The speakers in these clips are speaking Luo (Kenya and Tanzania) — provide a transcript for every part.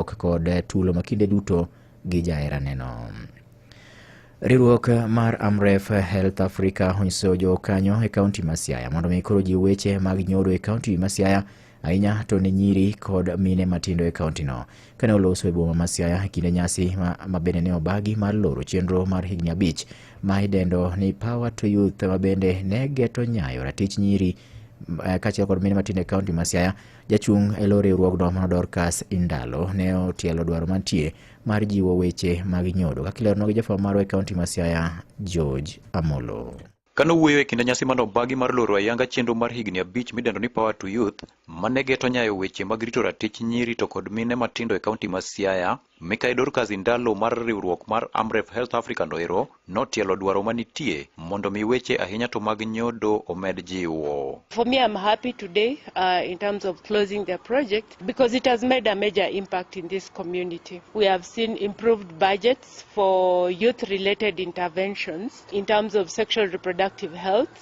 ok kod tulo ma kinde duto gi jaheraneno. Riwruok mar Amref Health Africa onyiso jokanyo e kaunti ma Siaya mondo mi koro jiw weche mag nyodo e kaunti ma Siaya ahinya to ne nyiri kod mine matindo e kauntino. Kane oloso e boma ma Siaya e kinde nyasi ma, ma bende ne obagi mar loro chenro mar higni abich ma idendo ni Power to Youth ma bende ne geto nyayo ratich nyiri eh, kaachiel kod mine matindo e kaunti ma Siaya Jachung' e lo riwruogno mano Dorcas Indalo ne otielo dwaro mantie mar jiwo weche mag nyodo kaka ilerno gi jafwambo marwa e kaunti ma Siaya George Amolo. Kano wuoyo e kinde nyasi mane obagi mar loro ayanga chenro mar higni abich midendo ni Power to Youth mane geto nyayo weche mag rito ratich nyiri to kod mine matindo e kaunti ma Siaya, Mikai Dorcas Indalo mar riwruok mar Amref Health Africa no ero notielo dwaro manitie mondo mi weche ahinya to mag nyodo omed jiwo. For me, I'm happy today uh, in terms of closing the project because it has made a major impact in this community. We have seen improved budgets for youth related interventions in terms of sexual reproductive health.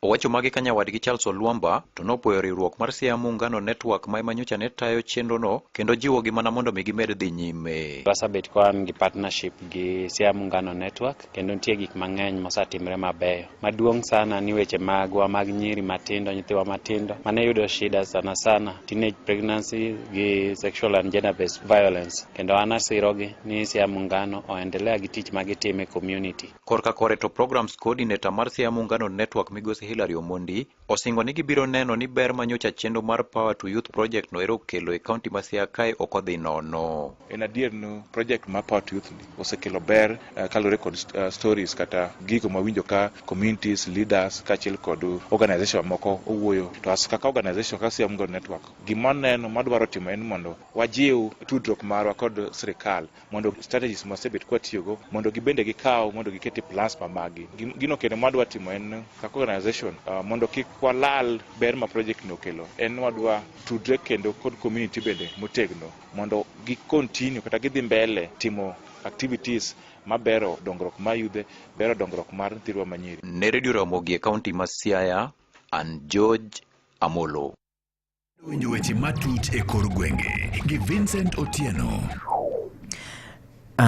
Owacho magi ka nyawadgi Charles Olwamba to nopwoyo riwruok mar Siaya Muungano Network ma ema nyocha ne tayo chenrono kendo jiwogi mana mondo mi gimed dhi nyime. Wasebet ka wan gi partnership gi Siaya Muungano Network kendo nitie gik mang'eny mosetimre mabeyo. Maduong' sana ni weche magwa mag nyiri matindo, nyithiwa matindo mane yudo shida sana sana teenage pregnancy gi sexual and gender based violence kendo an asirogi ni Siaya Muungano oendelea gi tich magitimo e community. Korka kore to Programs Coordinator mar Siaya Muungano Network Migosi Hilary Omondi osingo ni gibiro neno ni ber ma nyocha chenro mar Power to Youth Project no ero okelo e kaunti ma Siaya kae ok odhi nono. En adier ni project mar Power to Youth ni osekelo ber eh, kaluwore kod st- eh, stories kata gigo mawinjo ka communities, leaders kaachiel kod organization moko owuoyo to as kaka organization kaka Siaya Muungano Network gima waneno madwaro timo en mondo wajiw tudruok marwa kod sirikal mondo strategies mwasebet kwatiyogo mondo gibende gikaw mondo giket e plans ma maggi. Gim- Gino kendo mwadwa timo en kaka organization uh, mondo kik walal ber ma project ni okelo en wadwa tudre kendo kod community bende motegno mondo gi continue kata gidhi mbele timo activities mabero dongruok mar yudhe bero dongruok mar nyithindwa manyiri Ne Redio Ramogi e kaunti ma Siaya, an George Amolo. Winjo weche matut e kor gwenge gi Vincent Otieno.